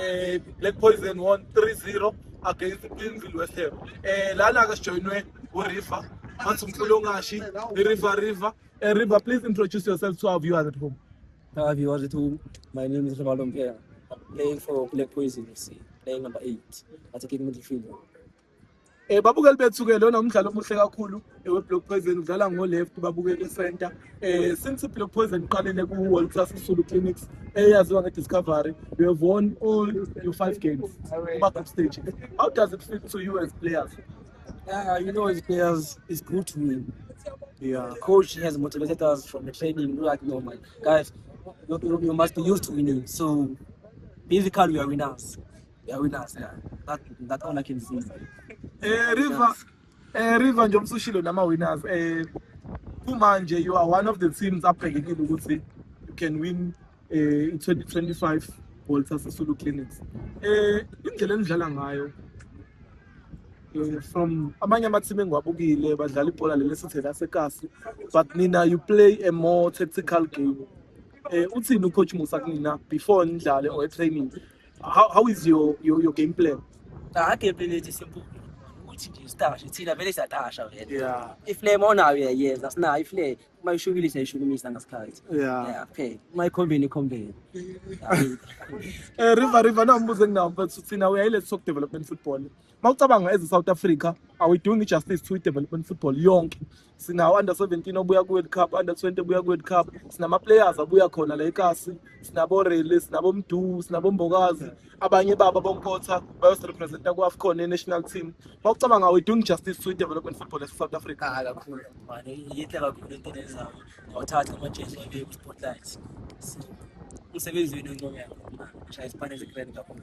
eh Black Poison won 3-0 against Pimville West Ham eh lana ke sijoinwe uRiver athi umfulongashi iRiver River eh River please introduce yourself to our viewers at home our viewers at home my name is Rivaldo Mpela I'm playing for Black Poison FC playing number 8 attacking midfielder Eh babukeli bethu ke lona umdlalo omuhle kakhulu eh, weBlock Poison udlala ngo left babukeli center eh since Block Poison iqalile ku World Class Sulu Clinics eyaziwa nge Discovery we have won all your five games kuma group stage how does it feel to you as players yeah you know as players it's good to win yeah coach has motivated us from the training like no man guys you, you must be used to winning so basically we are winners Ya wina sir. That that all I can say. Eh River eh River nje umsushilo nama winners eh kumanje you are one of the teams abhekekile ukuthi you can win eh 2025 Walter Sisulu Clinics. Eh indlela enidlala ngayo eh, from amanye amathimi engiwabukile badlala ibhola leli sithe lasekasi but nina you play a more tactical game eh uthini ucoach Musa kunina before nidlale or e training how, how is your, your, your game plan cha game plan yethu simple ukuthi nje sitashe thina vele siyatasha vele yeah iflame onayo uyayenza sinayo iflame uma ishukile siyayishukumisa ngasikhathi yeah yeah okay uma ikhombeni ikhombeni eh river river nambuze nginawo but thina we are let's talk development football mawucabanga as South Africa are we doing justice to development football yonke sinawo under 17 obuya ku World Cup under 20 obuya ku World Cup sinama players abuya khona la eKasi sinabo Rele sinabo Mdu sinabo Mbokazi abanye baba bonkotha bayos representa ku AFCON e national team mawucabanga are we doing justice to development football as South Africa ah, kakhulu manje yithe kakhulu into lezayo ngawuthatha ama jersey wabe ku spotlight umsebenzi wenu ncono yakho shaya isipane ze grand kakhulu